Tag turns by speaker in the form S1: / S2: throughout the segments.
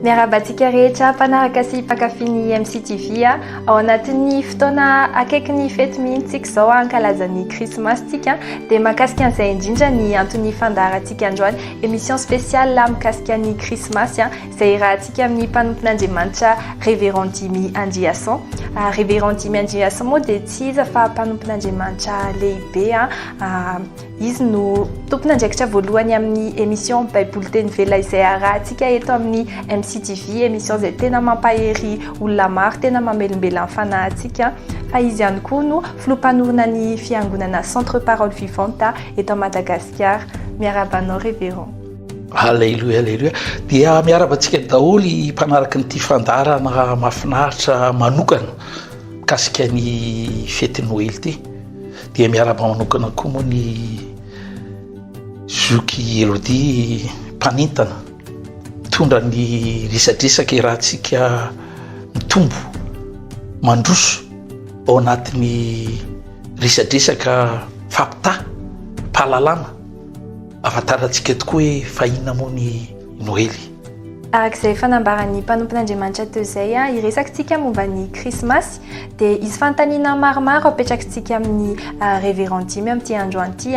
S1: Miarahaba antsika rehetra mpanaraka sy mpankafy ny MCTV a. Ao anatin'ny fotoana akaiky ny fety mihitsy tsika izao hankalaza ny krismasy tsika dia mahakasika an'izay indrindra ny anton'ny fandaharantsika androany émission spéciale mikasika ny krismasy izay irahantsika amin'ny mpanompon'Andriamanitra Révérend Dimy Andriason. Ah, Révérend Dimy Andriason moa dia tsy iza fa mpanompon'Andriamanitra lehibe a. Ah, Izy no tompon'andraikitra voalohany amin'ny émission Baiboly teny vela izay arahantsika eto amin'ny MCTV, émission izay tena mampahery olona maro, tena mamelombela ny fanahintsika. Fa izy ihany koa no filoha mpanorina ny fiangonana Centre Parole Vivante eto à Madagasikara. Miarahaba anao Révérend. Aleloia,
S2: aleloia. Dia miaraba antsika daholo mpanaraka an'ity fandarana mafinaritra manokana mikasika ny fety Noely ity. Dia miarahaba manokana koa moa ny zoky Elodie mpanentana mitondra ny resadresaka iarahantsika mitombo mandroso ao anatin'ny resadresaka fampitaha mpahalalana ahafantarantsika tokoa hoe fahina moa ny Noely. Araka izay
S1: efa nambaran'ny mpanompon'Andriamanitra teo izay, hiresaka isika momba ny Krismasy. Dia hisy fanontaniana maromaro apetrakitsika amin'ny Révérend dimy amin'ity androany ity.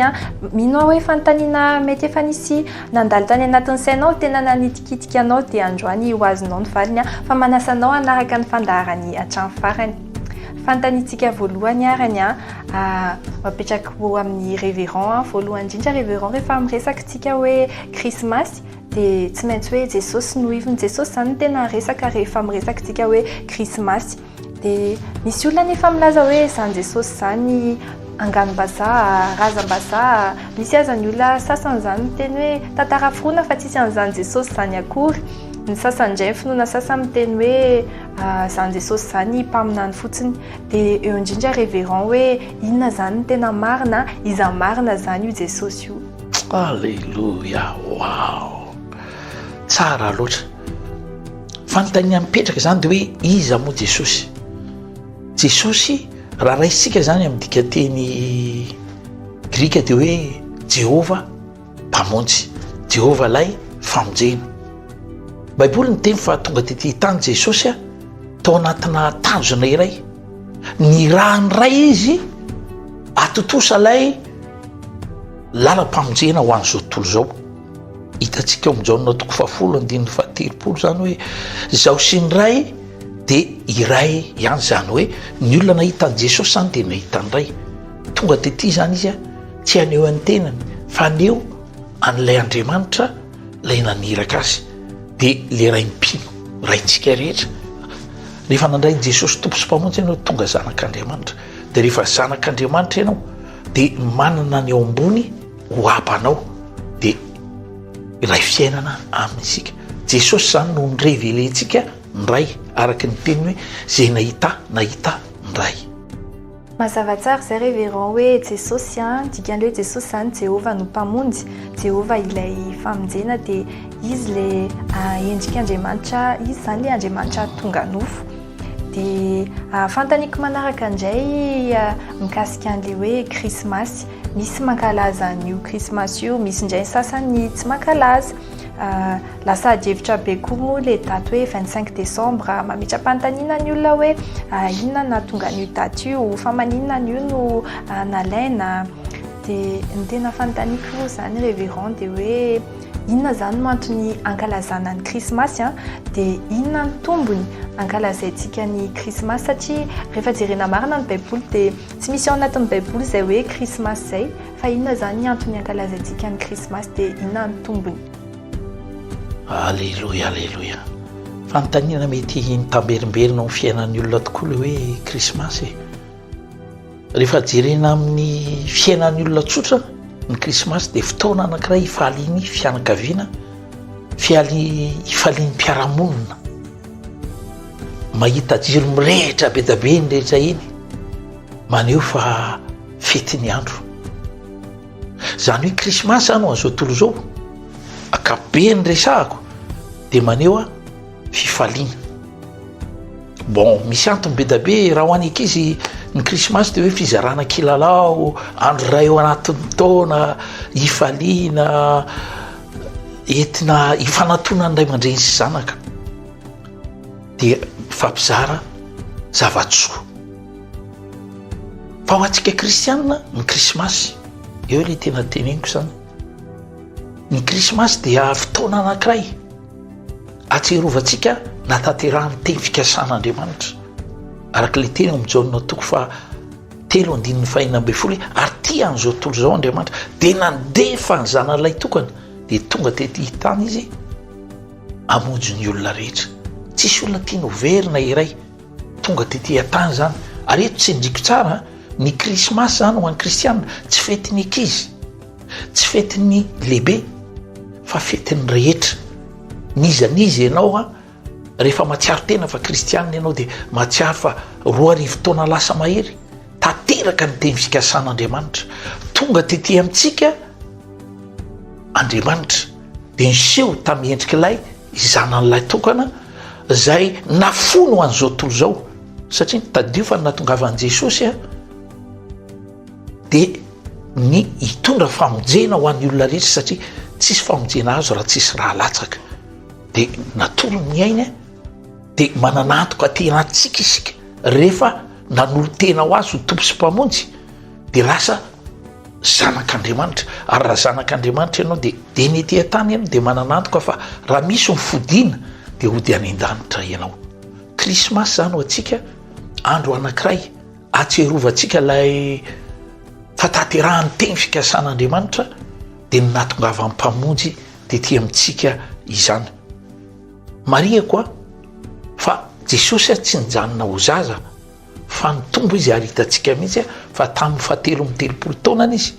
S1: Mino aho hoe fanontaniana mety efa nisy nandalo tany anatin'ny sainao, tena nanitikitika anao, dia androany ho azonao ny valiny. Fa manasa anao hanaraka ny fandaharany hatramin'ny farany. Fanontaniantsika voalohany àry ny apetrako ho amin'ny Révérend. Voalohany indrindra, Révérend, rehefa miresaka isika hoe Krismasy, dia tsy maintsy hoe Jesosy no ivony. Jesosy izany no tena resaka rehefa miresaka isika hoe Krismasy. Dia misy olona nefa milaza hoe izany Jesosy izany angano-bazaha, razam-bazaha. Misy aza ny olona sasany izany miteny hoe tantara forona fa tsisy an'izany Jesosy izany akory. Ny sasany indray, ny finoana sasany miteny hoe izany Jesosy izany mpaminany fotsiny. Dia eo indrindra reverend hoe inona izany no tena marina, iza marina izany io Jesosy io. Aleloia
S2: waw tsara loatra fanontania mipetraka zany de hoe iza moa jesosy jesosy raha raisika zany amy dikateny grika de hoe jehovah mpamonjy jehovah lay famonjena baiboly ny teny fa tonga tety tany jesosy a tao anatina tanjona iray ny raha ny ray izy atontosa lay Lalam-pamonjena ho an'izao tontolo izao. Hitantsika ao amin'ny Jaona toko fahafolo andininy fahatelopolo izany hoe izaho sy ny Ray dia iray ihany, izany hoe ny olona nahita an'i Jesosy izany dia nahita ny Ray. Tonga tety izany izy, tsy haneho ny tenany fa haneho an'ilay Andriamanitra ilay naniraka azy, dia ilay Ray mpino, Raintsika rehetra. Rehefa nandray an'i Jesosy Tompo sy Mpamonjy ianao dia tonga zanak'Andriamanitra, dia rehefa zanak'Andriamanitra ianao, de manana ny ao ambony ho abanao de ilay fiainana aminy isika jesosy zany no ny revele ntsika ndray araka ny teniny hoe zay nahita nahita ndray
S1: mazavatsara zay reveran hoe jesosy a dikany hoe jesosy zany jehova no mpamonjy jehova ilay famonjena de izy le endrika andriamanitra izy zany le andriamanitra tonga nofo Dia fantaniko manaraka indray mikasika an'ilay hoe krismasy. Misy mankalaza an'io krismasy io, misy indray sasany tsy mankalaza. Lasa adihevitra be koa moa ilay daty hoe 25 desambra. Mametra-panontaniana ny olona hoe inona nahatonga an'io daty io, fa maninona an'io no nalaina. Dia ny tena fanontaniako moa izany Révérend dia hoe... Inona izany no antony ankalazana ny krismasy an? Dia inona ny tombony ankalazaintsika ny krismasy? Satria rehefa jerena marina ny baiboly dia tsy misy ao anatin'ny baiboly izay hoe krismasy izay. Fa inona izany ny antony ankalazaintsika ny krismasy dia inona ny tombony? Aleloia
S2: aleloia. Fanontaniana mety mitamberimberina ao amin'ny fiainan'ny olona tokoa ilay hoe krismasy e. Rehefa jerena amin'ny fiainan'ny olona tsotra ny krismasy dia fotoana anankiray hifalian'ny fianakaviana, hifalian'ny mpiara-monina. Mahita jiro mirehitra be dia be eny rehetra eny, maneho fa fety ny andro. Izany hoe krismasy izany ho an'izao tontolo izao, ankapobeny resahako dia maneho a. fifaliana. Bon, misy antony be da be raha ho an'ny ankizy ny krismasy de hoe fizarana kilalao, andro iray ao anatin'ny taona, hifaliana, entina hifanantonan'ny ray aman-dreny sy zanaka de mifampizara zava-tsoa. Fa ho antsika kristianina ny krismasy, eo le tena teneniko zany, ny krismasy dia fotoana anankiray, Ahatsiarovantsika nahatanterahan'ny teny fikasana Andriamanitra, araka ilay teny ao amin'ny Jaona toko faha telo andininy fahenina ambin'ny folo hoe ary tia an'izao tontolo izao Andriamanitra dia nandefa ny zanany lay tokana dia tonga tety hitany izy amonjo ny olona rehetra tsisy olona tiany hoverina iray tonga tety hatany zany ary eto tsy ndriko tsara ny krismasy zany ho an'ny kristianina tsy fetiny ankizy Tsy fetin'ny lehibe fa fetin'ny rehetra. N'iza n'iza ianao an, rehefa mahatsiaro tena fa kristianina ianao dia mahatsiaro fa roa arivo taona lasa mahery tanteraka ny teny fikasan'Andriamanitra. Tonga tety amintsika Andriamanitra dia niseho tamin'ny endrik'ilay Zanany lahy tokana izay nafoiny ho an'izao tontolo izao. Satria tadidio fa ny nahatongavan'i Jesosy an. Dia ny hitondra famonjena ho an'ny olona rehetra satria tsisy famonjena azo raha tsisy rà latsaka. Dia natory ny ainy dia manana antoka tena antsika isika rehefa nanolo-tena ho azy ho Tompo sy Mpamonjy dia lasa zanak'Andriamanitra. Ary raha zanak'Andriamanitra ianao dia dia ny ety an-tany ianao dia manana antoka fa raha misy ny fodiana dia hody any an-danitra ianao. Krismasy izany ho antsika andro anankiray. Ahatsiarovantsika ilay fahatanterahan'ny teny fikasan'Andriamanitra dia ny nahatongavan'ny Mpamonjy tety amintsika izany. Marihako a, fa Jesosy a tsy nijanona ho zaza fa nitombo izy ary hitantsika mihitsy fa tamin'ny fahatelo amby telopolo taonany izy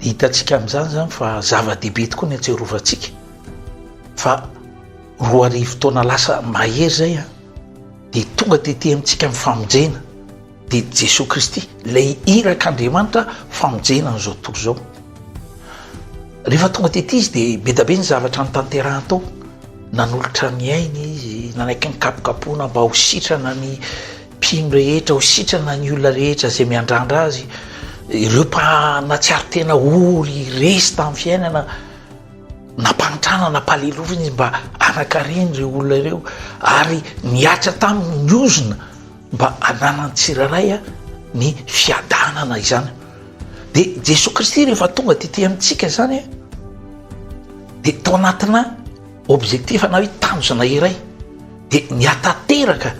S2: Hitantsika amin'izany izany fa zava-dehibe tokoa ny atsiarovantsika fa roa arivo taona lasa mahery izay an, dia tonga tety amintsika amin'ny famonjena dia Jesoa Kristy, ilay irak'Andriamanitra famonjena an'izao tontolo izao. Rehefa tonga tety izy dia be dia be ny zavatra nitanterahany tao, nanolotra ny ainy izy, nanaiky ny kapokapoana mba ho sitrana ny Mpino rehetra ho sitrana ny olona rehetra izay miandrandra azy, ireo mpanatsiaro tena ho resy tamin'ny fiainana, nampahantrana, nampalelofina izy mba hanakariny ireo olona ireo ary nihatra taminy ny ozona mba hananan'ny tsirairay ny fiadanana izany. Dia Jesoa Kristy rehefa tonga tety amintsika izany dia tao anatina Objectif na hoe tanjona iray dia ny hatateraka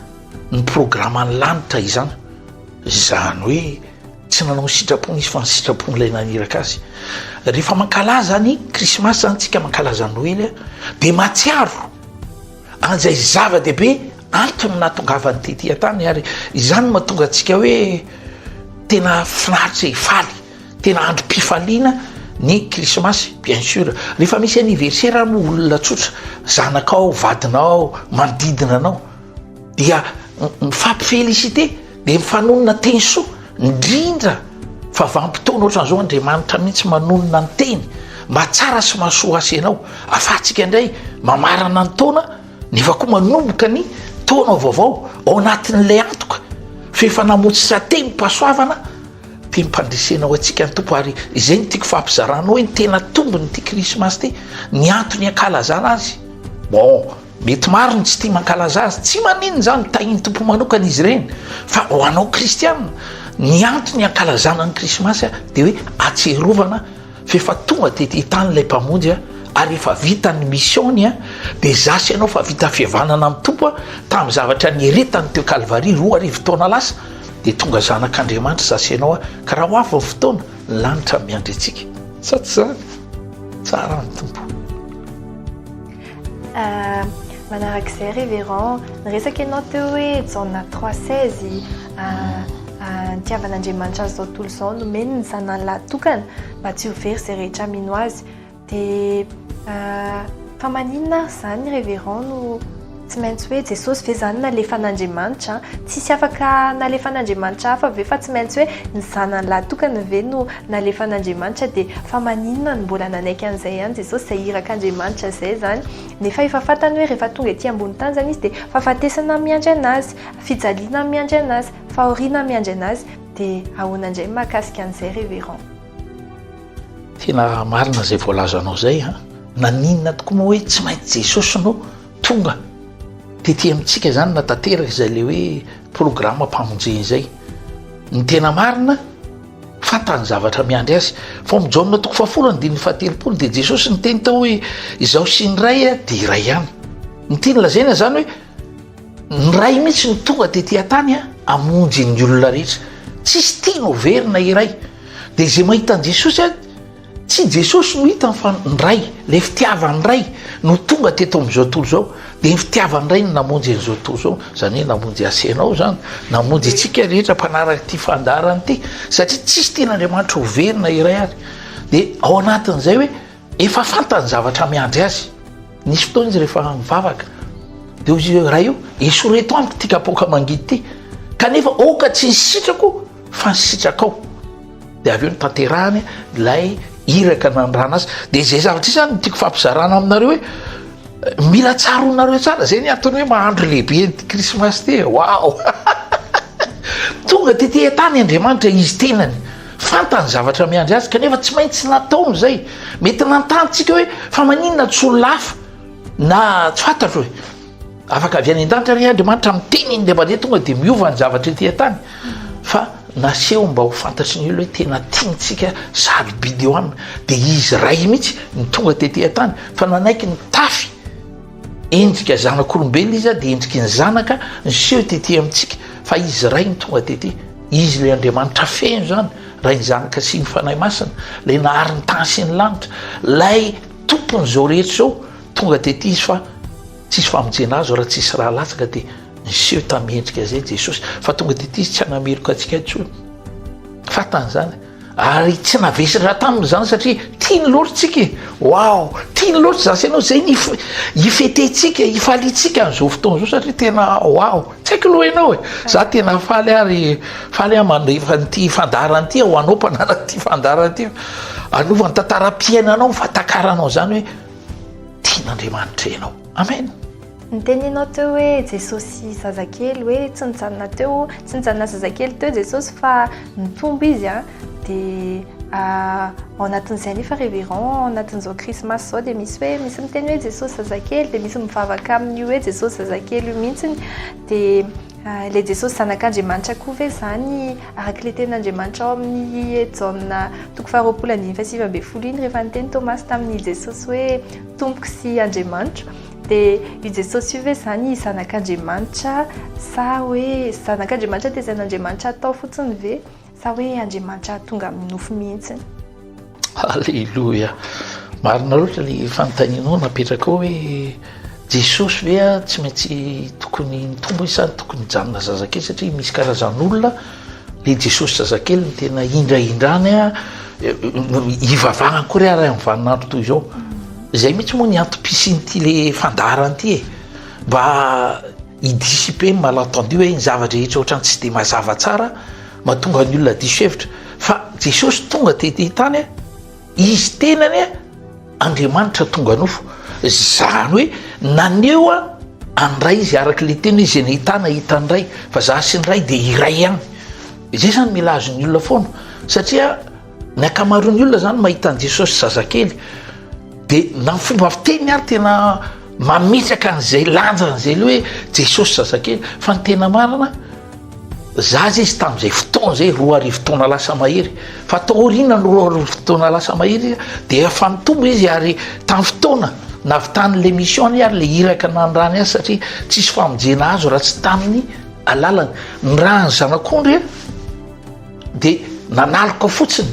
S2: ny programan'ny lanitra izany, izany hoe tsy nanao ny sitrapony izy fa ny sitrapon'ilay naniraka azy. Rehefa mankalaza ny krismasy izany tsika mankalaza noely a, dia matsiaro an'izay zava-dehibe antony nahatongavany tety an-tany ary izany no mahatonga antsika hoe tena finaritra e, faly. Tena androm-pifaliana ny krismasy bien sur. Rehefa misy anniversaire ary moa olona tsotra, zanakao, vadinao, manodidina anao dia mifampi-feliciter, dia mifanonona teny soa, indrindra fa vanim-potoana ohatran'izao Andriamanitra mihitsy manonona ny teny mba tsara sy mahasoa azy sy ianao. Ahafahantsika indray mamarana ny taona nefa koa manomboka ny taona vaovao ao anatin'ilay antoka f'efa namotsitsa-tenimpahasoavana, Teny fandresena ho antsika ny Tompo ary izay no tiako fampizarana hoe ny tena tombon'ity krismasy ity, ny antony hankalazana azy. Bon, mety maro ny tsy tia mankalaza azy, tsy maninona izany, ho tahin'ny Tompo manokana izy ireny, fa ho anao kristiana, ny antony hankalazana ny krismasy dia hoe hatsiarovana f'efa tonga tety tany ilay Mpamonjy ary efa vita ny mission-ny, dia za sy ianao efa vita fihavanana amin'ny Tompo tamin'ny zavatra nieretany teo Kalvary roa arivo taona lasa. dia tonga zanak'Andriamanitra za sy ianao aho, ka raha ho avy ny fotoana, ny lanitra miandry antsika. Sa tsy izany? Tsara ny Tompo. Euh,
S1: manarak'izay révérend, niresaka ianao teo hoe Jaona 3:16 euh, nitiavan'Andriamanitra an'izao tontolo izao nomeny ny zanany lahy tokana mba tsy ho very izay rehetra mino azy. Dia fa maninona ary izany Révérend no tsy maintsy hoe Jesosy ve izany nalefan'Andriamanitra? Tsisy afaka nalefan'Andriamanitra hafa ve fa tsy maintsy hoe ny zanany lahy tokana ve no nalefan'Andriamanitra? Dia fa maninona no mbola nanaiky an'izay ihany Jesosy izay irak'Andriamanitra izay izany? Nefa efa fantany hoe rehefa tonga ety ambony tany izany izy dia fahafatesana miandry an'azy, fijaliana miandry an'azy, fahoriana miandry an'azy. Dia ahoana indray ny mahakasika an'izay Révérend?
S2: Tena marina izay voalazanao izay a! Naninona tokoa moa hoe tsy maintsy Jesosy no tonga? Tety amintsika izany na tanteraka izay ilay hoe programam-pamonjena izay. Ny tena marina, fantany ny zavatra miandry azy. Fa ao amin'ny Jaona toko fahafolo andininy fahatelopolo dia Jesosy niteny tao hoe izaho sy ny Ray dia iray ihany. Ny tiany lazaina izany hoe. Ny Ray mihitsy no tonga tety an-tany hamonjy ny olona rehetra. Tsisy tiany ho very na iray. Dia izay mahita an'i Jesosy an, tsy Jesosy no hitany fa ny Ray. Ilay fitiavan'ny Ray no tonga teto amin'izao tontolo izao. Dia ny fitiavan'ny Ray no namonjy an'izao tontolo izao. Izany hoe namonjy ahy sy ianao izany. Namonjy antsika rehetra mpanaraka ity fandaharana ity. Satria tsisy tian'Andriamanitra ho very na iray ary. Dia ao anatin'izay hoe. Efa fantany zavatra miandry azy. Nisy fotoana izy rehefa mivavaka dia hoy izy hoe Ray o, esoreto amiko ity kapoaka mangidy ity, kanefa aoka tsy ny sitrako fa ny sitrakao. Dia avy eo notanterahany ilay iraka nanirana azy. Dia izay zavatra izay izany no tiako fampizarana aminareo hoe mila tsaroanareo tsara. Izay ny antony hoe mahandro lehibe ny krismasy ity e. Waouh! Tonga tety an-tany Andriamanitra Izy tenany. Fantany ny zavatra miandry azy kanefa tsy maintsy nataony izay. Mety nanontany tsika hoe fa maninona tsy olona hafa na tsy fantatro hoe afaka avy any an-danitra re Andriamanitra miteny iny dia mandeha tonga dia miova ny zavatra ety an-tany fa naseho mba ho fantatry ny olona hoe tena tiantsika sady bideoame dia izy ray mihitsy ny tonga tety an-tany fa nanaiky ny tafy Endrika zanak'olombelona izy dia endriky ny zanaka niseho tety amintsika fa izy iray no tonga tety. Izy ilay Andriamanitra feno izany, Ray ny Zanaka sy ny Fanahy Masina, ilay nahary ny tany sy ny lanitra, ilay Tompon'izao rehetra izao, tonga tety izy fa tsisy famonjena azo raha tsisy ra latsaka dia niseho tamin'ny endrika izay Jesosy fa tonga tety izy tsy hanameloka antsika intsony. Fantany izany. Ary tsy navesiny raha taminy izany satria tiany loatra tsika e! Wow! Tiany loatra izany sy ianao izay ny hifetentsika, hifaliantsika an'izao fotoana izao satria tena wow! Tsy haiko aloha ianao e! Za tena faly ary faly aho mandefa an'ity fandaharana ity ho anao mpanaraka ity fandaharana ity fa hanova ny tantaram-piainanao ny fahatakaranao izany hoe tian'Andriamanitra ianao. Amen! Noteneninao
S1: teo hoe Jesosy zazakely hoe tsy nijanona teo tsy nijanona zazakely teo Jesosy fa nitombo izy a dia ao anatin'izay anefa révérend ao anatin'izao krismasy izao dia misy hoe misy miteny hoe Jesosy zazakely dia misy mivavaka amin'io hoe Jesosy zazakely io mihitsy dia ilay Jesosy zanak'Andriamanitra koa ve izany araka ilay tenin'Andriamanitra ao amin'ny Jaona toko faharoapolo andininy fahasivy ambin'ny folo iny rehefa niteny Tomasy tamin'i Jesosy hoe tompoko sy Andriamanitro Dia io Jesosy io ve izany zanak'Andriamanitra sa hoe zanak'Andriamanitra tezain'Andriamanitra atao fotsiny ve sa hoe Andriamanitra tonga amin'ny nofo mihitsiny?
S2: Aleloia! Marina loatra ny fanontanianao napetraka ao hoe Jesosy ve tsy maintsy tokony nitombo sa tokony nijanona zazakely satria misy karazan'olona Le Jesosy zazakely no tena hindrahindrany a, hivavahany koa re ary amin'ny vaninandro toy izao. Izay mihitsy moa ny antom-pisian'ity le fandaharana ity e. Mba hi-dissiper ny malentendu hoe ny zava-drehetra ohatran'ny tsy dia mazava tsara, mahatonga ny olona diso hevitra. Fa Jesosy tonga teto an-tany a. Izy tenany Andriamanitra tonga nofo, izany hoe naneho an'ny Ray izy araka ilay teny hoe izay nahita ahy nahita ny Ray, fa za sy ny Ray dia iray ihany. Izay izany mila azon'ny olona foana satria ny ankamaroan'ny olona izany mahita an'i Jesosy zazakely dia na ny fomba fiteny ary tena mametraka an'izay lanjany izay hoe Jesosy zazakely fa ny tena marina Zaza izy tamin'izay fotoana izay, roa arivo taona lasa mahery. Fa tao aoriana ny roa arivo taona lasa mahery dia efa nitombo izy ary tamin'ny fotoana navitan'ilay mission-ny ary ilay iraka nanirahany azy satria tsisy famonjena azo raha tsy tamin'ny alalany. Nirahan'ny zanak'ondry dia nanaloka fotsiny.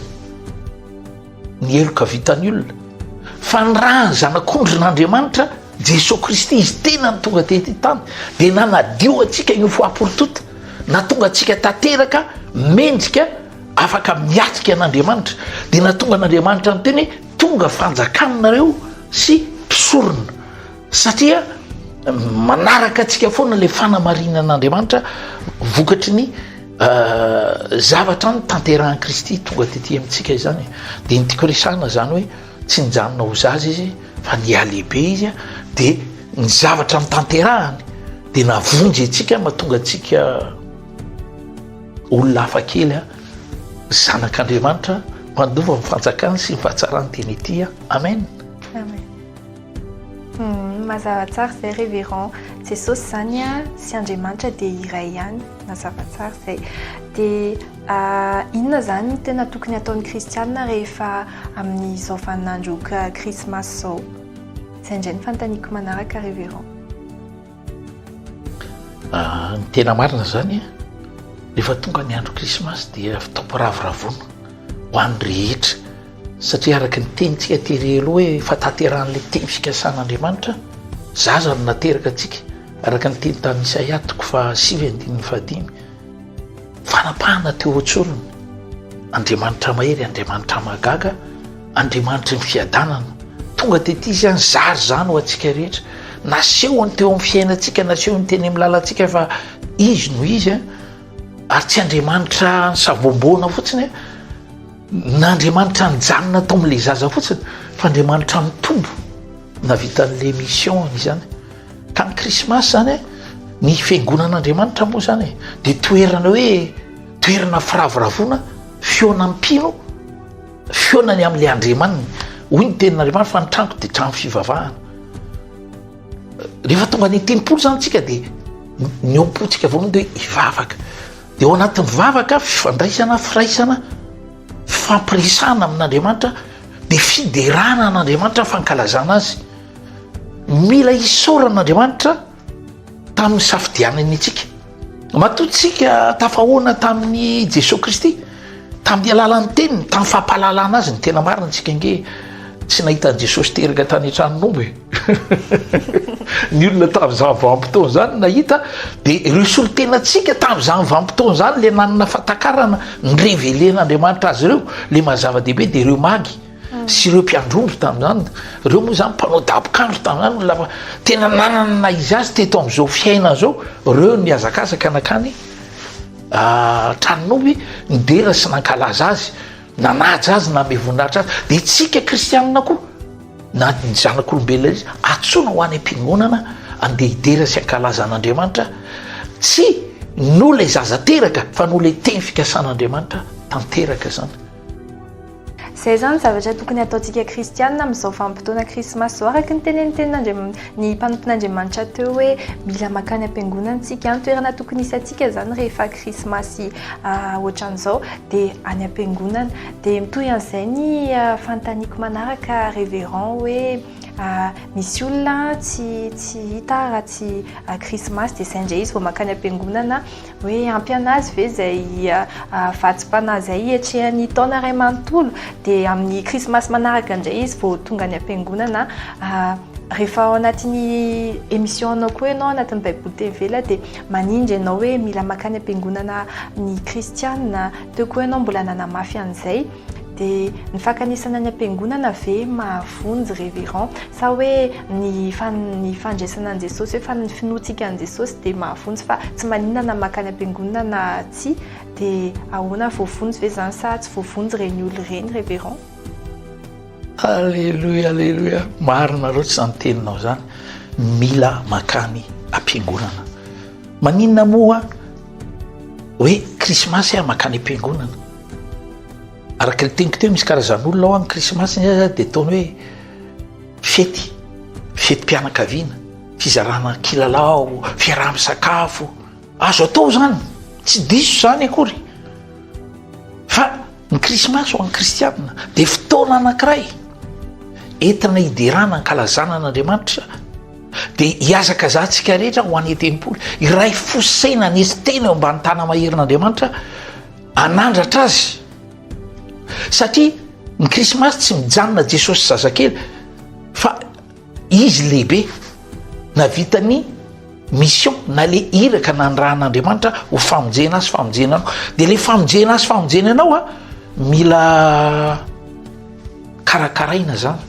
S2: Ny heloka vitan'ny olona. Fa ny raha ny Zanak'ondrin'Andriamanitra, Jesoa Kristy, Izy tena no tonga teto an-tany, dia nanadio antsika io fahaporotota, natonga antsika tanteraka mendrika afaka miatrika an'Andriamanitra. Dia natonga an'Andriamanitra niteny hoe, Tonga fanjakanareo sy mpisorona. Satria manaraka antsika foana ilay fanamarinan'Andriamanitra vokatry ny zavatra notanterahin'i Kristy tonga tety amintsika izany. Dia ny tiako resahana izany hoe tsy nijanona ho zaza izy fa nihalehibe izy dia ny zavatra notanterahany dia navonjy antsika mahatonga antsika olona hafakely zanak'Andriamanitra mpandova ny fanjakany sy ny fahatsarany teny ety. Amen.
S1: Mazava tsara izay reverend, Jesosy izany sy Andriamanitra dia iray ihany, mazava tsara izay. Dia inona izany no tena tokony hataon'ny kristianina rehefa amin'izao vaninandro krismasy izao? Izay indray no fanontaniako manaraka reverend.
S2: Ah, ny tena marina izany an, rehefa tonga ny andro krismasy dia fitaom-piravoravoana ho an'ny rehetra, satria araka ny tenintsika tery aloha hoe fahatanterahan'ilay teny fikasan'Andriamanitra, zaza no nateraka antsika, araka ny teny tamin'i Isaia toko fahasivy andininy fahadimy, fanapahana teo an-tsorony, Andriamanitra mahery, Andriamanitra mahagaga. Andriamanitry ny fiadanana, tonga tety Izy any, zary izany ho antsika rehetra. Nasehony teo amin'ny fiainantsika, nasehony teny amin'ny lalantsika fa Izy no Izy an, ary tsy Andriamanitra nisaboboana fotsiny an, n'Andriamanitra nijanona tao amin'ilay zaza fotsiny, fa Andriamanitra nitombo nahavita an'ilay mission-ny izany. Ka ny krismasy izany an, ny fiangonan'Andriamanitra moa izany e, dia toerana hoe toerana firavoravoana, fihaonam-pino, Fihaonany amin'ilay Andriamaniny. Hoy ny tenin'Andriamanitra fa ny tranoko dia trano fivavahana. Rehefa tonga any tempoly zany tsika dia ny ao am-pontsika voalohany dia hivavaka. Dia ao anatin'ny vavaka, fifandraisana, firaisana, fifampiresahana amin'Andriamanitra, dia fiderana an'Andriamanitra, fankalazana azy. Mila isaorana an'Andriamanitra. tamin'ny safidianany antsika. Matoa tsika tafahoana tamin'i Jesoa Kristy, tamin'ny alalan'ny teniny, tamin'ny fampahalalana azy ny tena marina tsika nge tsy nahita an'i Jesosy teraka tany an-tranon'omby. Ny olona tamin'izany vanim-potoana izany nahita dia ireo solontenantsika tamin'izany vanim-potoana izany ilay nanana fahatakarana ny revele an'Andriamanitra azy ireo, ilay maha zava-dehibe dia ireo magy. sy ireo mpiandrondro tamin'izany, ireo moa izany mpanao dabokandro tamin'izany, olona fa tena nanana ny naha izy azy teto amin'izao fiainana izao, ireo nihazakazaka nankany an-tranon'omby nidera sy nankalaza azy, nanaja azy, nanome voninahitra azy, dia isika kristianina koa na ny zanak'olombelona izy antsoina ho any am-piangonana andeha hidera sy hankalaza an'Andriamanitra, tsy noho ilay zaza teraka fa noho ilay teny fikasan'Andriamanitra tanteraka izany.
S1: Izay izany zavatra tokony hataontsika kristianina amin'izao vanim-potoana krismasy izao, araka ny tenenin'ny tenin'Andriamanitra, ny mpanompon'Andriamanitra teo hoe mila mankany am-piangonana isika, ny toerana tokony hisy antsika izany rehefa krismasy ohatran'izao dia any am-piangonana. Dia mitohy an'izay ny fanontaniako manaraka Révérend hoe misy olona tsy hita raha tsy krismasy dia izay indray izy vao mankany am-piangonana. Hoe ampy an'azy ve izay vatsim-panahy izay hiatrehany taona iray manontolo? Dia amin'ny krismasy manaraka indray izy vao tonga any am-piangonana. Rehefa ao anatin'ny émission-nao koa ianao anatin'ny Baiboly teny ivelany dia manindry anao hoe mila mankany am-piangonana ny kristiana. Teo koa ianao mbola nanamafy an'izay. Dia ny fankanesana ny ampiangonana ve mahavonjy reverend sa hoe ny ny fandraisana an'i Jesosy hoe fa ny finoantsika an'i Jesosy dia mahavonjy fa tsy maninona na makany ampiangonana na tsia dia ahoana voavonjy ve zany sa tsy voavonjy ireny olona ireny reverend? Aleloia
S2: aleloia marina loatra izany teninao izany mila makany ampiangonana maninona moa hoe krismasy aho makany ampiangonana Araka ny teniko teo misy karazan'olona ao any krismasy ny azy dia ataony hoe fety, fetim-pianakaviana, fizarana kilalao, fiaraha-misakafo, azo atao izany, tsy diso izany akory fa ny krismasy ho an'ny kristianina dia fotoana anankiray entina hiderana ankalazana an'Andriamanitra dia hihazakazahantsika rehetra ho any an-tempoly, iray fo sy saina, anetsi-tena eo ambany tanana maherin'Andriamanitra. Hanandratra azy. Satria ny krismasy tsy mijanona Jesosy zazakely fa izy lehibe navitany mission na le iraka nandrahan'Andriamanitra ho famonjena azy famonjena anao de le famonjena azy famonjena anao a mila karakaraina zany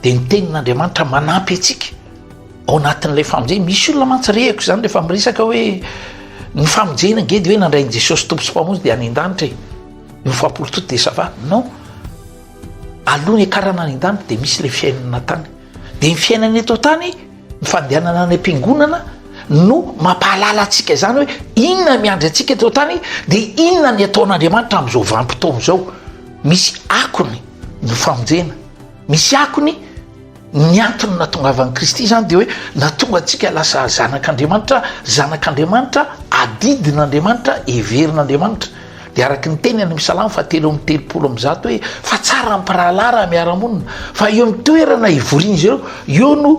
S2: de ny tenin'Andriamanitra manampy antsika Ao anatin'ilay famonjena, misy olona mantsy rehako izany rehefa miresaka hoe ny famonjena ange dia hoe nandray an'i Jesosy Tompo sy Mpamonjy dia any an-danitra e. Ny fahapoly tout dia ça va. Non, alohan'ny hiakarana any an-danitra dia misy ilay fiainana tany. Dia ny fiainana eto an-tany, ny fandehanana any am-piangonana no mampahalala antsika izany hoe inona ny miandry antsika eto an-tany dia inona ny ataon'Andriamanitra amin'izao vanim-potoana izao. Misy akony ny famonjena. Misy akony ny antony nahatongavan'i Kristy izany dia hoe nahatonga antsika lasa zanak'Andriamanitra, zanak'Andriamanitra, adidin'Andriamanitra, heverin'Andriamanitra. Dia araka ny teny any amin'ny Salamo fahatelo amby telopolo amby zato hoe fa tsara ny mpirahalahy raha miara-monina, fa eo amin'ny toerana hivorian'izy ireo eo no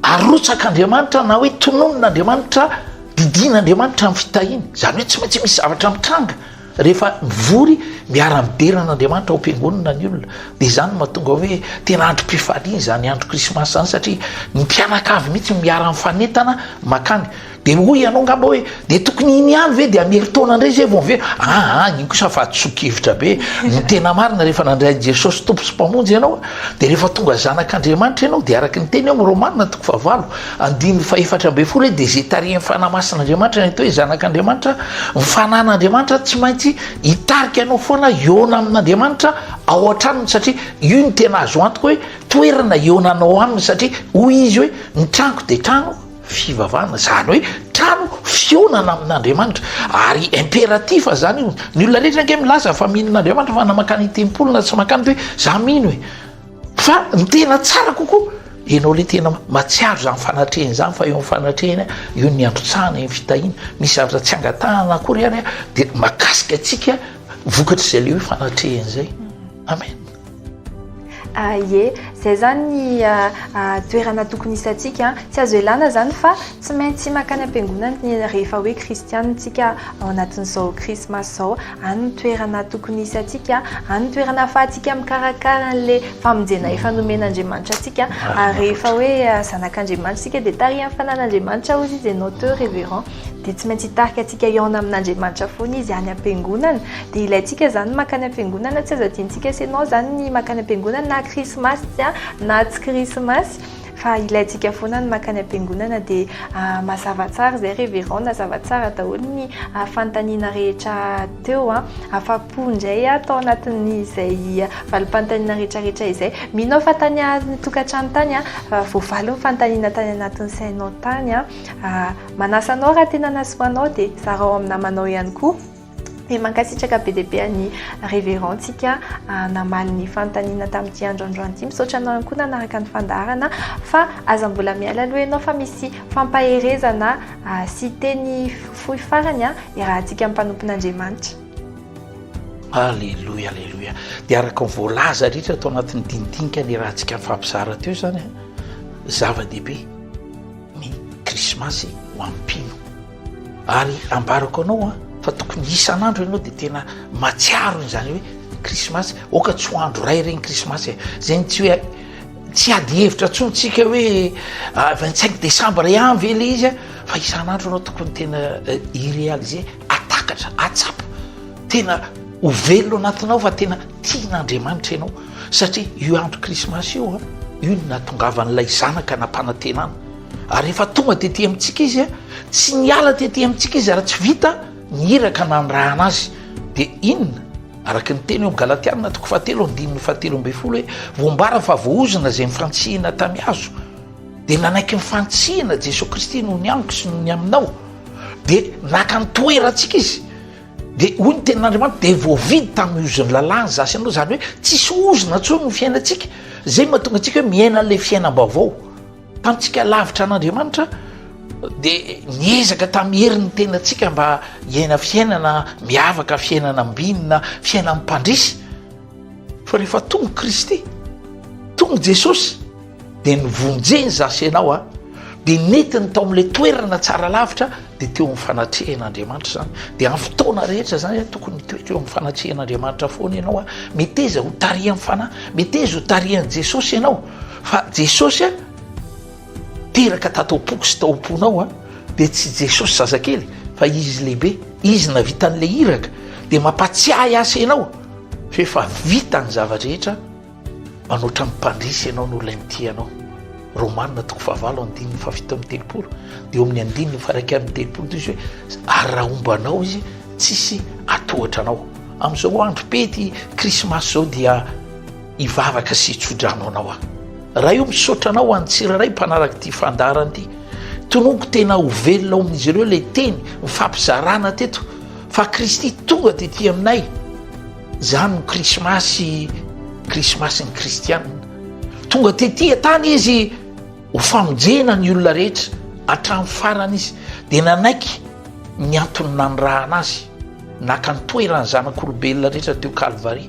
S2: arotsak'Andriamanitra na hoe tononina Andriamanitra, didiana Andriamanitra amin'ny fitahiany. Izany hoe tsy maintsy misy zavatra mitranga. Rehefa mivory miara-midera an'Andriamanitra ao am-piangonana ny olona dia izany no mahatonga hoe tena androm-pifaliana izany andro krismasy izany satria ny mpianakavy mihitsy no miara-mifanentana mankany. Dia hoy ianao angamba hoe dia tokony iny ihany ve dia am-herintaona indray izay vao miverina? Aa iny kosa fahadisoan-kevitra be. Ny tena marina rehefa nandray an'i Jesosy Tompo sy Mpamonjy ianao dia rehefa tonga zanak'Andriamanitra ianao dia araka ny tenin'i Romana toko fahavalo, Andininy fahefatra ambin'ny folo hoe dia izay tarihin'ny Fanahy Masin'Andriamanitra, ny atao hoe Zanak'Andriamanitra, ny Fanan'Andriamanitra tsy maintsy hitarika anao foana hihaona amin'Andriamanitra ao an-tranony satria io no tena azo antoka hoe toerana hihaonanao aminy satria hoy izy hoe ny tranoko dia trano fivavahana izany hoe trano fihaonana amin'Andriamanitra ary impératif izany io ny olona rehetra ange milaza fa mino an'Andriamanitra fa na makany tempoly na tsy makany hoe za mino e Fa ny tena tsara kokoa, ianao ilay tena mahatsiaro izany fanatrehana izany fa eo amin'ny fanatrehana, eo ny niantotsahana, eo ny fitahiana, misy zavatra tsy angatahana akory ary dia mahakasika antsika vokatr'izay ilay hoe fanatrehana izay. Amen.
S1: Ah, ie, zay zany ny ah, ah, toerana tokony hisantsika. Tsy azo elana zany fa tsy maintsy makany am-piangonana rehefa hoe kristianina tsika ao anatin'izao krismasy zao. Any ny toerana tokony hisy antsika, any ny toerana ahafahantsika mikarakara an'ilay famonjena efa nomen'Andriamanitra antsika. Ary rehefa hoe zanak'Andriamanitra isika dia tarihan'ny fanan'Andriamanitra hozy izy ianao teo Reverend. Dia tsy maintsy hitarika antsika hihaona amin'Andriamanitra foana izy any am-piangonana. Dia ilaintsika izany ny mankany am-piangonana, tsy azo adinontsika sy ianao izany ny mankany am-piangonana na krismasy na tsy krismasy. Fa ilaintsika foana ny mankany am-piangonana dia mazava tsara izay reverend, nazava tsara daholo ny fanontaniana rehetra teo. Afa-po indray aho tao anatin'izay valim-panontaniana rehetrarehetra izay. Mino aho fa tany amin'ny tokantrano tany, voavaly ny fanontaniana tany anatin'ny sainao tany. Manasa anao raha tena nahasoa anao dia zarao amin'ny namanao ihany koa. Dia mankasitraka be dia be an'i Révérend tsika namaly ny fanontaniana tamin'ity andro androany ity. Misaotra anao ihany koa nanaraka ny fandaharana fa aza mbola miala aloha ianao fa misy fampaherezana sy teny fohy farany iarahantsika amin'ny mpanompon'Andriamanitra. Alléluia,
S2: Alléluia. Dia araka ny voalaza rehetra tao anatin'ny dinidinika niarahantsika nifampizara teo izany, zava-dehibe ny krismasy ho an'ny mpino. Ary ambarako anao an, fa tokony isan'andro ianao dia tena mahatsiaro izany hoe krismasy, aoka tsy ho andro iray ireny krismasy e, zay ny tsy hoe tsy ady hevitra intsony tsika hoe ah, vingt cinq décembre ihany ve le izy a, fa isan'andro ianao tokony tena eh, irealiser atakatra atsapa tena ho velona anatinao fa tena tian'andriamanitra ianao satria io andro krismasy io a io no natongavan'ilay zanaka nampanantenana Ary rehefa tonga tety amintsika izy, tsy niala tety amintsika izy raha tsy vita ny iraka nanirahana azy. Dia inona? Araka ny teny ao Galatiana toko fahatelo andininy fahatelo ambin'ny folo hoe voambara fa voaozona izay nifantsihina tamy hazo. Dia nanaiky nifantsihina Jesoa Kristy noho ny amiko sy noho ny aminao. Dia naka ny toerantsika izy. Dia hoy ny tenin'Andriamanitra dia voavidy tamin'ny ozon'ny lalàny za sy ianao, izany hoe tsisy ozona intsony ny fiainantsika. Izay no mahatonga antsika hoe miaina an'ilay fiainam-baovao. Tamintsika lavitra an'Andriamanitra dia niezaka tamin'ny herin'ny tenantsika mba hiaina fiainana miavaka, fiainana ambinina, fiainan'ny mpandresy. Fa rehefa tonga Kristy, tonga Jesosy, dia nivonjeny za sy ianao a, dia netiny tao amin'ilay toerana tsara lavitra, dia teo amin'ny fanatrehan'Andriamanitra izany. Dia amin'ny fotoana rehetra izany a, tokony mitoetra eo amin'ny fanatrehan'Andriamanitra foana ianao a, meteza ho tarihan'ny Fanahy, meteza ho tarihan'i Jesosy ianao. Fa Jesosy a, teraka tato am-poko sy tao am-ponao a, dia tsy Jesosy zazakely fa Izy lehibe, Izy navita an'ilay iraka, dia mampatsiahy asa ianao fa efa vita ny zava-drehetra, manoatra ny mpandresy ianao noho ilay mitia anao. Romana toko fahavalo andininy fahafito amby telopolo, dia eo amin'ny andininy fahairaika amby telopolo dia izy hoe ary raha homba anao izy tsisy hatohatra anao. Amin'izao andro pety krismasy izao dia. hivavaka sy hitsodrano anao aho. Ray o, misaotra anao ho an'ny tsirairay mpanaraka ity fandaharana ity. Tononiko tena ho velona ao amin'izy ireo ilay teny mifampizarana teto fa Kristy tonga tety aminay. Izany no Krismasy, Krismasin'ny Kristianina. Tonga tety an-tany izy ho famonjena ny olona rehetra hatramin'ny farany izy dia nanaiky ny antony nanirahana azy. Naka ny toeran'ny zanak'olombelona rehetra teo Kalvary.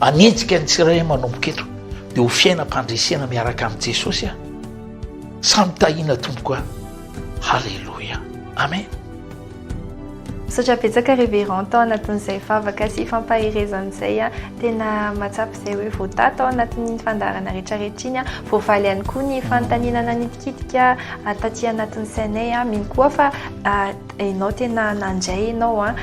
S2: Hanenjika ny tsirairay manomboka eto dia ho fiainam-pandresena miaraka amin'i Jesosy aho. Samy tahiana tompoko aho. Haleloia. Amen.
S1: Misaotra betsaka Révérend tao anatin'izay vavaka sy fampaherezana izay. Tena mahatsapa izay hoe voataha tao anatin'iny fandaharana rehetrarehetra iny. Voavaly ihany koa ny fanontaniana nanitikitika taty anatin'ny sainay. Mino koa fa Enao tena nandray enao a,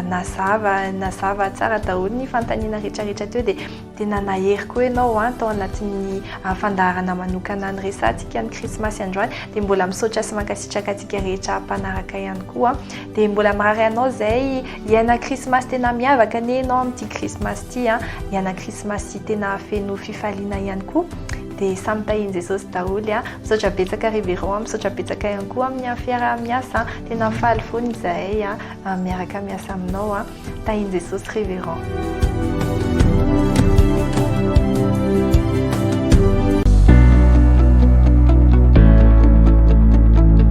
S1: nazava nazava tsara daholo ny fanontaniana rehetra rehetra teo dia tena nahery koa enao a tao anatin'ny fandaharana manokana ny resahantsika ny krismasy androany dia mbola misaotra sy mankasitraka antsika rehetra mpanaraka ihany koa dia mbola marary anao zay hiaina krismasy tena miavaka anie enao amin'ity krismasy ity a hiaina krismasy tena feno fifaliana ihany koa dia samy tahian'i Jesosy daholo a! Misaotra betsaka Révérend a! Misaotra betsaka ihany koa amin'ny fiaraha-miasa a! Tena faly fona izahay a! Miaraka miasa aminao a! Tahian'i Jesosy Révérend.